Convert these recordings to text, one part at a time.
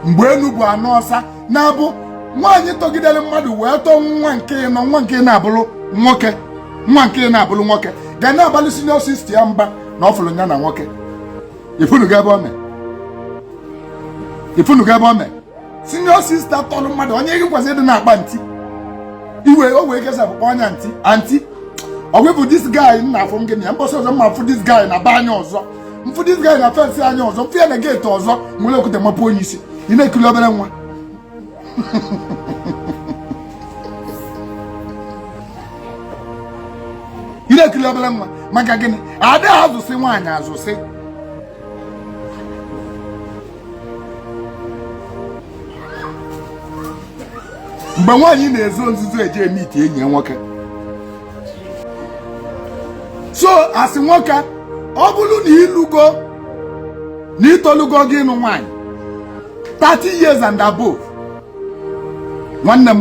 mgbe enu bụ ana ọsa nya bụ nwaanyị tọgidere mmadụ wee tọọ nwa nke ịnọ nwa nke na-abụrụ nwoke nwa nke na-abụrụ nwoke ga na-abalị senior sista ya mba na ọ fụrụ ya na nwoke ifunuga ebe ome ifunuga ebe ome senior sista tọrọ mmadụ onye gị kwesịrị ịdị na-akpọ anti iwe o wee kesa bụkwa ọnya nti anti ọgwụ bụ dis guy m na-afụ gị na ya mbọsị ọzọ m ma-afụ dis guy na be anyị ọzọ m fụ dis guy na fensị anyị ọzọ m fụ ya na geeti ọzọ m were okwute mapụ ya isi ị na-ekiri obere nwa ị na-ekiri obere nwa maka gịnị adị azụsị nwaanyị azụsị mgbe nwaanyị na-ezo nzuzo eje meet enyi ya nwoke so asị nwoke ọ bụrụ na ị lụgo na ị tolugo gị ịnụ nwaanyị 30 years and above nwanne m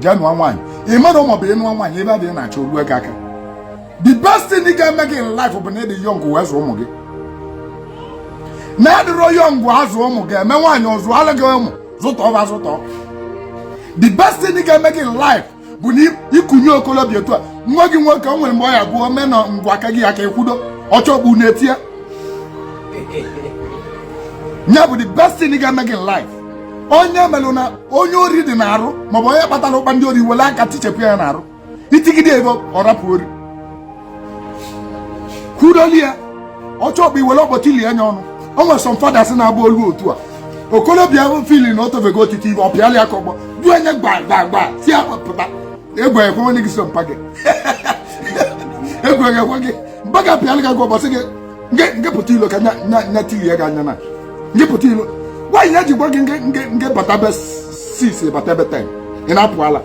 jee nụọ nwaanyị ị mara maọbụ ị nụọ nwaanyị ebe a dị na-achọ olu ego aka the best thing ga-eme gị in life bụ na ị dị young wee zụọ ụmụ gị na-adịrọ young azụ ụmụ gị emee nwaanyị ọ zụalụ gị ụmụ zụtọọ va zụtọ the best thing ga-eme gị in life bụ na ikunye okolobịa otu a nwa gị nwoke o nwere mgbe ọ ya-abụ o mee na ngwa aka gị ya aka ekudo ọchọgbu na-etie ya nya bụ the best thing ga-eme gị in life onye melụ na onye ori dị n'arụ maọbụ onye kpatara ụkpa ndị ori i were aka tichapụ ya n'arụ i tigide ya ọ rapụ ori kudoli ya ọchọ bụ i were ọkpọ tilie nya ọnụ o nwere some fathers na-agba olu otu a okolobịa fiili na o tofego otiti ive ọ pịalịa ya ka ọgbọ dụọ nya gbagbagba sị ya pụta egwu ekwe onye gị so mpa gị egwu ekwe gị mpa gị apịalịa gị ka ọgbọ sị gị ngị pụta ilo ka nya tirie gị anya na ngị pụta ilo why ya ji gwa gị ngị batabe six ị batabe ten ị na-apụ ala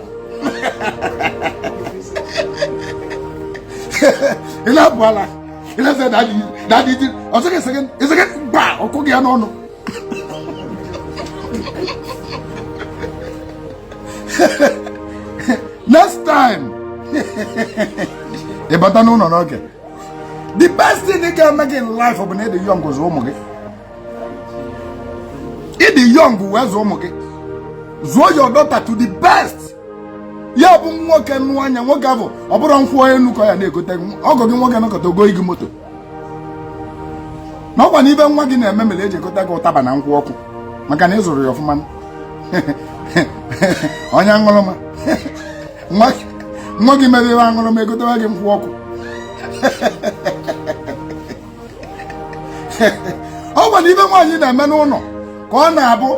ị na-apụ ala ị na-asị dadị ji ọ sị gị ị sị gịnị gba ọkụ gị ya n'ọnụ next time ị bata n'ụlọ n'oge the best thing ga-eme gị in life bụ na ị dị young zụ ụmụ gị ị dị young wee zụ ụmụ gị zụọ your daughter to the best ya bụ nwoke nụa nya nwoke ahụ ọ bụrọ nkwụ enu ka ọ ya na-egote ọgọ gị nwoke egotago gị moto na ọkwa na ive nwa gị na-eme mere e ji egote gị ụtaba na nkwụ ọkụ maka na ị zụrọ ya ọfụma ọ nụ onye aṅụrụma nwa gị mere ihe aṅụrụ m egotewa gị nkụ ọkụ ọ kwanụ ive nwaanyị na-eme n'ụlọ ka ọ na-abụ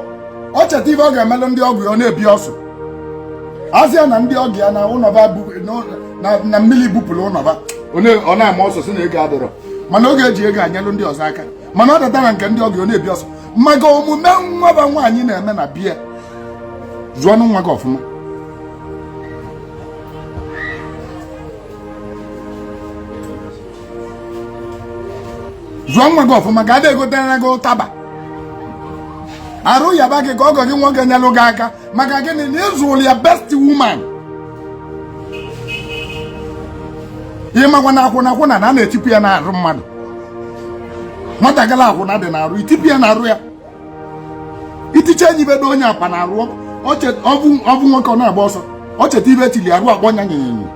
ọ cheta ive ọ ga-emelụ ndị ọgọ ya ọ na-ebi ọsụ asị ya na ndị ọgọ ya na ụlọ va na mmiri bupụrụ ụlọ va ọ na-ama ọsụ sị na ego adịrọ mana oge eji ego enyelụ ndị ọzọ aka mana ọ data na nke ndị ọgọ ya ọ na-ebi ọsụ maka omume nwa va nwaanyị na-eme na be ya zụọ nwa gị ọfụma zụọ nwa gị ọfụma ka a na-egotere gị ụtaba arụ yaba gị ka ọgọ gị nwoke nyelụ gị aka maka gịnị na ị zụlụ ya best woman ị makwa na akwụna akwụna na a na-etipụ ya n'arụ mmadụ nwatakịrị akwụna dị n'arụ itipụ ya n'arụ ya iticha enyi bedo onye akpa na arụ ọ vụ nwoke ọ na-agba ọsọ ọ cheta ive e tili arụ akpọ nya nyanyanya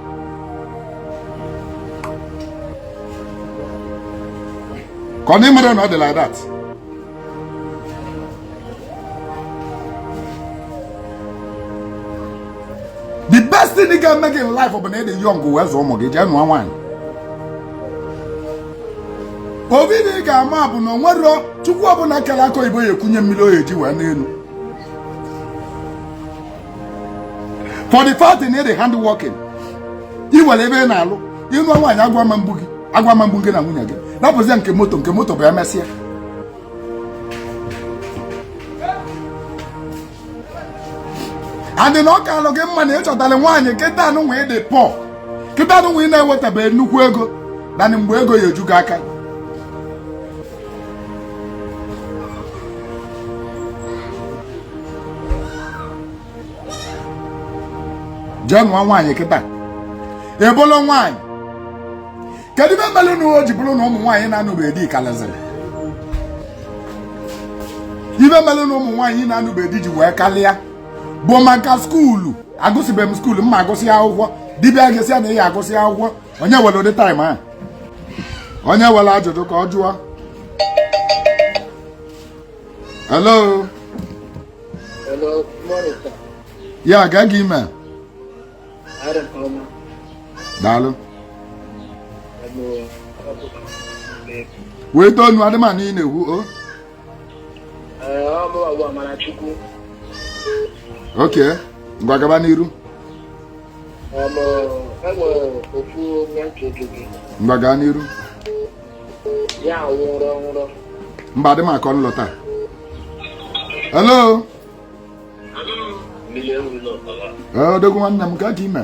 ka a na-emere ndị dị like that the best thing ga-eme gị in life bụ na ị dị young wee zụọ ụmụ gị jee nụọ nwaanyị ovu ive ị ga-ama bụ na o nwerọ chukwu ọbụla kere akụ oyibo ya ekunye mmiri ọ ya-eji wee n'elu for the fact na ị dị hardworking ị nwere ebe ị na-alụ ị nụọ nwaanyị agụụ ama egbu gị agụụ ama egbu gị na nwunye gị napụzie nke moto nke moto bụ emesịa adị na ọ ka alụ gị mma na ị chọtara nwaanyị kịta ị nọ wee dị poor kịta ị nọ wee na-enwetabeghị nnukwu ego nanị mgbe ego ya eju gị aka jee nụọ nwaanyị kịta ị bụlụ nwaanyị kedu ive melụ na o ji bụrụ na ụmụ nwaanyị na-anụrọ di kalịzịrị ive melụ na ụmụ nwaanyị na-anụrọ di ji wee kalịa bụ maka skuulu agụsịbeghị m skuulu m ya agụsị akwụkwọ di bịa ị ga-asị ya na ị ya agụsị akwụkwọ onye were ụdị time a onye nwere ajụjụ ka ọ jụọ hello ya ga gị ime daalụ wee tonu adịmanụ ị na-ekwu o ok ngwa gaba n'iru ngwa gaa n'iru mba adị m akọ nlọta hello odogwu nwanne m kedu ka i me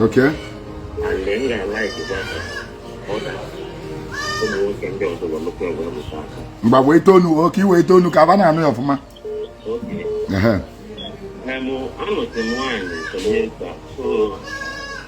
Okay. And then I like it better. mgbe wee tonu oke iwe tonu ka aba na-anụ ya ọfụma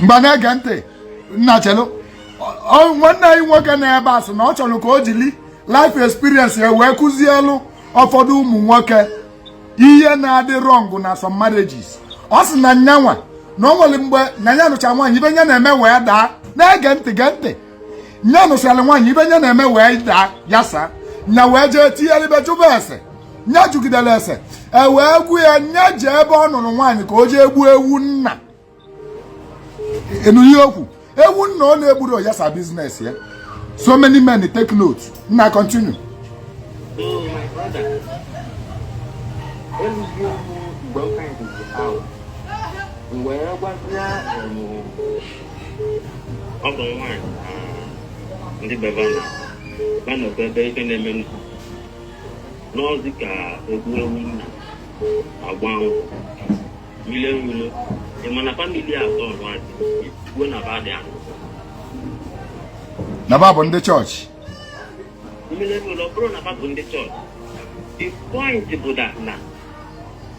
mgbe na-ege ntị nna chelu nwanne anyị nwoke nọ ebe a sị na ọ chọlụ ka o jili life experience ya wee kụzielu ụfọdụ ụmụ nwoke ihe na-adị wrong na some marriages ọ sị na nya nwa na o nwelu mgbe na ya nụcha nwaanyị ife nya na-eme wee daa na-ege ntị gee ntị nya nụsịrị nwaanyị ife nya na-eme wee daa ya saa nya wee jee tinyere ibe jụba ese nya jụgidelu ese e wee gwa ya nya jee ebe ọ nụlụ nwaanyị ka o jee gbuo ewu nna enu ihe okwu ewu nna ọ na-egburọ yasa business ya so many men take note nna continue mgbe ọ bụ nwaanyị ndị be ba na ba nọkwa ebe ife na-eme nna n'ọzi ka e gbuo ewu nna agba anwụ mmiri enwulo ị ma na family atọ nwaanyị kwuo na ba dị anụ na ba bụ ndị chọọchị mmiri enwulo ọ bụrụ na ba bụ ndị chọọchị the point bụ that na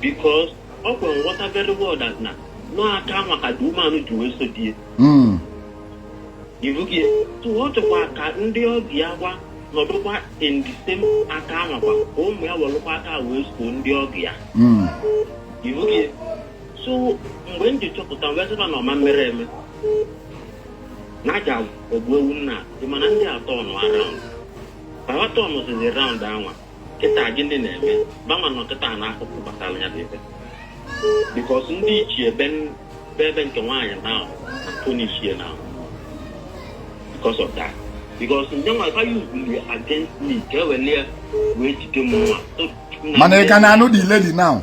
because ọ kwere nghọta very well that na nọ aka nwa ka dị umeanụ ji wee so di ya ibugie so ọ chọkwa ka ndị ọbi ya ga-anọdụkwa in the same aka anwakwa ka ụmụ ya welụkwa aka wee so ndị ọbi ya ibugie so mgbe m ji chọpụta wee sịba na ọma mere eme na a ja-egbu ewu nna dị mana ndị atọ nọ around atọ nọzi around anwa kịta gị ndị na-eme gbanwa na ọkịta na akụkụ gbasara ya dị ebe because ndị ichie be ebe nke nwaanyị na tony ichie na because of that because ndị nwa ka yuzuli against me ka ewelie wee jide m nwa mana ị ka na-anụ the lady now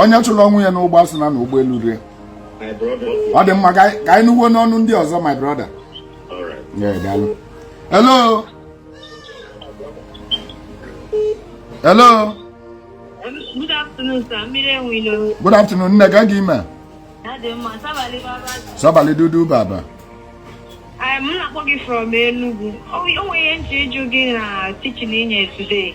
onye chụrụ onwe ya n'ụgbọ a sị na n'ụgbọ elurọ ye ọ dị mma ka anyị nụkwuo n'ọnụ ndị ọzọ my brother hello hello good afternoon sir mmiri enwilo good afternoon nne kee ka i me sabali dudu baba m na-akpọ gị from Enugu o nwere ihe m ji ịjụ gị na teaching i nye today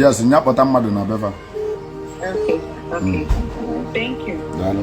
yes nya kpọta mmadụ na be fa daalụ